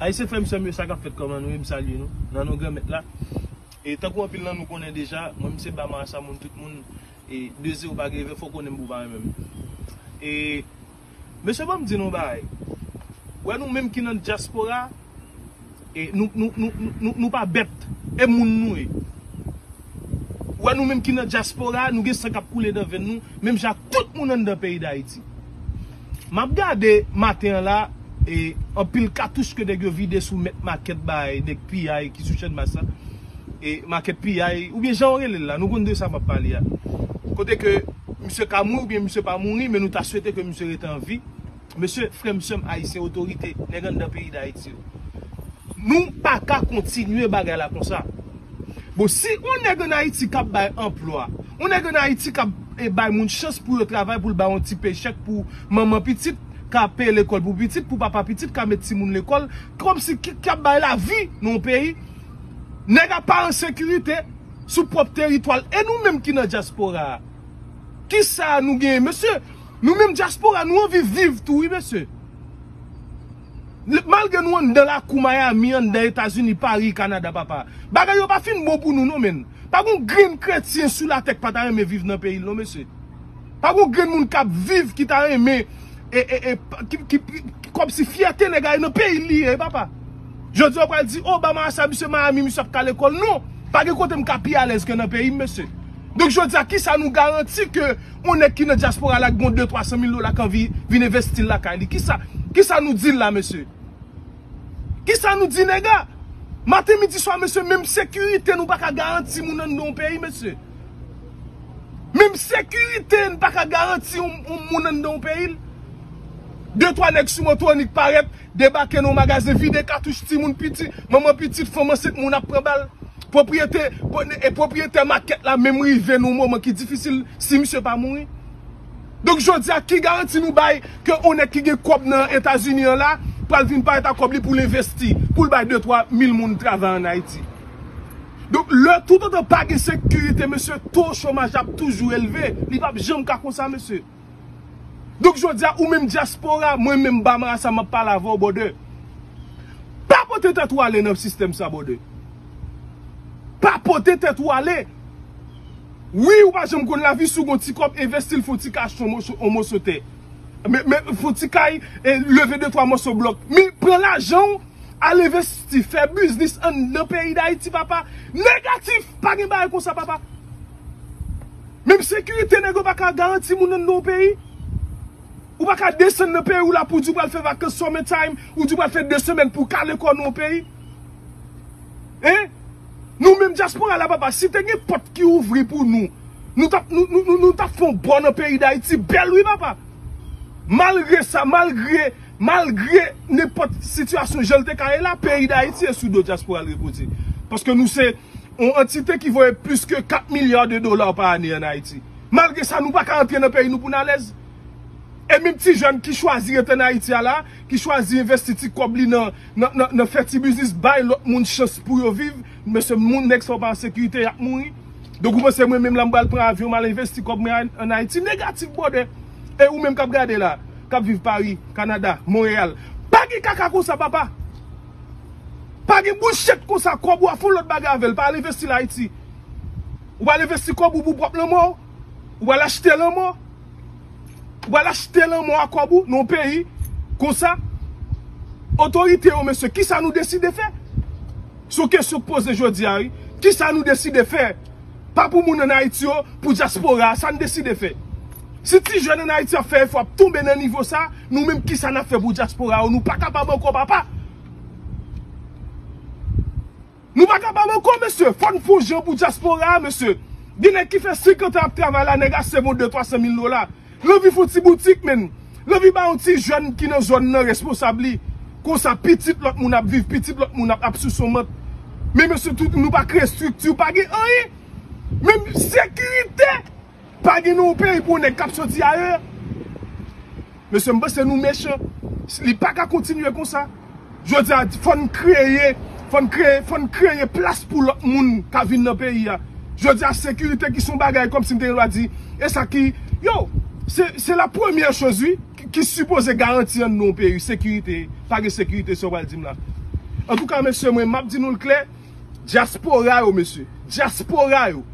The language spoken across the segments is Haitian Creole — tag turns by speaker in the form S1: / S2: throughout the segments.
S1: Ayisyen frèm sèm yo sa kap fèt kòman nou ye m salye nou nan non granmèt la e tankou anpil nan nou konnen deja mwen m se ba marasa moun tout moun e de zero pa gen vè fò konnen m pou pa renmen m e. Mesye banm di nou yon bagay, wè nou menm ki nan dyaspora nou pa bèt e moun nou ye. Wè nou menm ki nan dyaspora nou gen san kap koule nan venn nou menm jan ak tout moun anndan peyi dayiti. Map gade maten an la anpil katouch ke nèg yo vide sou mèt makèt bay nèg piyay ki sou channmas la. e makèt piyay oubyen janw relel la nou konn de sa map pale a kote ke misye ka mouri oubyen misye pa mouri men nou ta swete ke misye rete an vi mesye frèm sèm ayisyen otorite nèg anndan peyi dayiti yo nou paka kontinye bagay la konsa bon si yon nèg an ayiti kap bay anplwa yon nèg an ayiti kap bay moun chans pou yo travay poul bay yon ti pey chèk pou manman pitit ka peye lekòl pou pitit pou papa pitit ka met timoun lekòl kòmsi ki kap bay lavi nan yon peyi. Nèg a pa an sekirite sou pwòp teritwa l e nou menm ki nan dyaspora a kisa nou genyen mesye nou menm dyaspora nou anvi viv tou wi mesye malgre nou anndan lakou Miami anndan etazini Paris Canada papa bagay yo pa fin bon pou nou non menn pa gon grenn kretyen sou latè k pa ta renmen viv nan peyi l non mesye. Pa gon grenn moun kap viv ki ta renmen Komsi fyète nèg a nan peyi li ye papa Jodi a ou pral di Obama a sa misye Miami misye ap kale kòl non Pa gen kote m ka pi alèz ke nan peyi m mesye Donk jodi a kisa nou garanti ke yon nèg ki nan dyaspora la ki gon 2 300 mil dola k anvi vin envesti l lakay li kisa Kisa nou di l la mesye Kisa nou di nèg a Maten midi swa mesye menm sekirite nou pa ka garanti moun anndan yon peyi mesye. Menm sekirite n pa ka garanti yon moun anndan yon peyi l. De twa nèg sou moto annik parèt, debake nan yon magazen, vide katouch timoun piti, manman pitit, fanm ansent, moun ap pran bal. Pwopriyete, e pwopriyetè makèt la menm rive nan yon moman ki difisil si misye pa mouri. Donk jodi a ki garanti nou bay ke yon nèg ki gen kòb nan Etazini an la pral vin parèt ak kòb li pou l envesti, pou l bay de twa mil moun travay an Ayiti. Donk lè toutotan pa gen sekirite mesye to chomaj la ap toujou elve, li pap janm ka konsa mesye. Donk jodi a ou menm dyaspora, mwen menm Bamara sa map pale avèw brother. Pa pote tèt ou ale nan sistèm sa brother. Pa pote tèt ou ale. Wi ou pa janm konn lavi si w gon ti kòb envestil fon ti kay achte yon moso tè. Fon ti kay leve de twa moso blòk. Men pran lajanw. Al envesti, fè biznis anndan peyi Dayiti papa. Negatif! Pa gen bagay konsa papa. Menm sekirite nèg yo pa ka garanti moun anndan yon peyi. Ou pa ka desann nan peyi w la pou di w pral fè vakans summer time, ou di w pral fè 2 semèn pou w kale kò w nan yon peyi. Hein? Nou menm dyaspora la papa, si te gen pòt ki ouvri pou nou, nou tap nou tap fè yon bò nan peyi Dayiti bèl wi papa. Malgre sa, malgre. Malgre nenpòt sitiyasyon jan l te ka ye la, peyi Dayiti e sou do dyaspora l repoze. Paske nou se yon antite ki voye plis ke 4 milya de dola pa ane an Ayiti. Malgre sa nou pa ka antre nan peyi nou pou n alèz. E menm ti jèn ki chwazi rete an Ayiti a la, ki chwazi envesti ti kòb li nan fè ti biznis, bay lòt moun chans pou yo viv, mesye moun nèg sa yo pa an sekirite, y ap mouri. Donk ou panse mwen menm la m pral pran avyon m al envesti kòb mwen an Ayiti? Negatif brother! E ou menm kap gade la, kap viv Paris, Canada, Montreal, pa gen kaka konsa papa! Pa gen bouchet konsa, kob ou a fon lot bagay avel, pa al envesti l Haiti. Ou pa al envesti kob ou pou pwop lanmò ou? Ou pa al achte lanmò? Ou pa al achte lanmò a kob ou nan yon peyi konsa? Otorite yo mesye, kisa nou deside fè? Son kesyon k poze jodi a wi. Kisa nou deside fè? Pa pou moun an Ayiti yo, pou dyaspora a, sa n deside fè? Si ti jèn an Ayiti ap fè efò ap tonbe nan nivo sa, nou menm kisa n ap fè pou dyaspora yo? Nou pa kapab ankò papa! Nou pa kapab ankò mesye! Fò n fon jan pou dyaspora a mesye! Gen nèg ki fè 50 an ap travay la, nèg a sèvi w 2, 300 mil dola. Lanvi fon ti boutik menn. Lanvi ba yon ti jèn ki nan zòn nan responsab li. Konsa pitit lòt moun ap viv, pitit lòt moun ap sous yon mant. Men mesye tout nou pa kreye estrikti, pa gen anyen. Menm sekirite pa gen nan yon peyi pou yon nèg k ap soti ayè. Mesye m panse nou mechan. Li pa ka kontinye konsa. Jodi a, fò n kreye, fò n kreye, fò n kreye plas pou lòt moun ka vin nan peyi a. Jodi a, sekirite ki se yon bagay kòm si m te gen dwa di, e sa ki, yow, se, se la premyè choz wi, ki sipoze garanti anndan yon peyi, sekirite. Pa gen sekirite sa w pral di m la. Antouka mesye mwen, m ap di nou l klè, dyaspora yo mesye, dyaspora yo,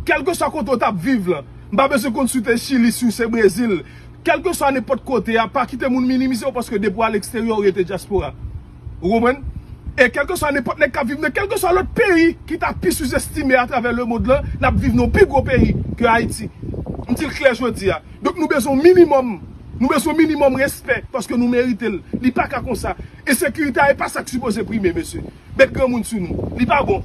S1: kèlkeswa kote w t ap viv lan, m pa bezwen konn si w te Chili, si w se Brezil, Kèlkeswa nenpòt kote a, pa kite moun minimize w paske depi w al eksteryè ou rete dyaspora. Ou konprann? E kèlkeswa nenpòt nèg k ap viv nan kèlkeswa lòt peyi ki ta pi souzestime atravè lemond lan, n ap viv nan yon pi gwo peyi ke Ayiti. M di l klè jodi a. Donk nou bezwen yon minimòm, nou bezwen yon minimòm respè paske nou merite l. Li pa ka konsa. Ensekirite a e pa sa k sipoze prime mesye. met granmoun sou nou li pa bon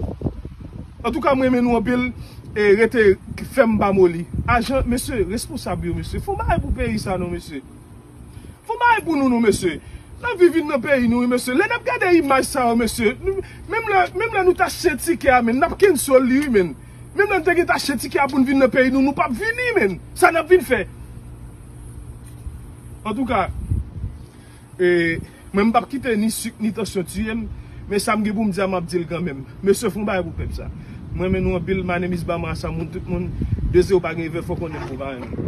S1: antouka m renmen nou anpil rete fèm pa moli ajan mesye responsab yo mesye fon bagay pou peyi sa non mesye fon bagay pou nou non mesye nan vi vin nan peyi nou wi mesye lè nap gade imaj sa yo mesye menm lè menm lè nou ta chyen tikè a menn nap kennsol li wi menn menm lè nou te gentan chyen tikè a pou nou vin nan peyi nou nou pap vini menn sa nap vin fè antouka. E mwen m pap kite ni suk ni tansyon tiyem men sam gen poum di a map dil kanmenm mesye fon bagay pou pèp sa m renmen nou anpil my name is bama asa moun tout moun dezi ou pa gen vè fò konnenm pou pa renmenm.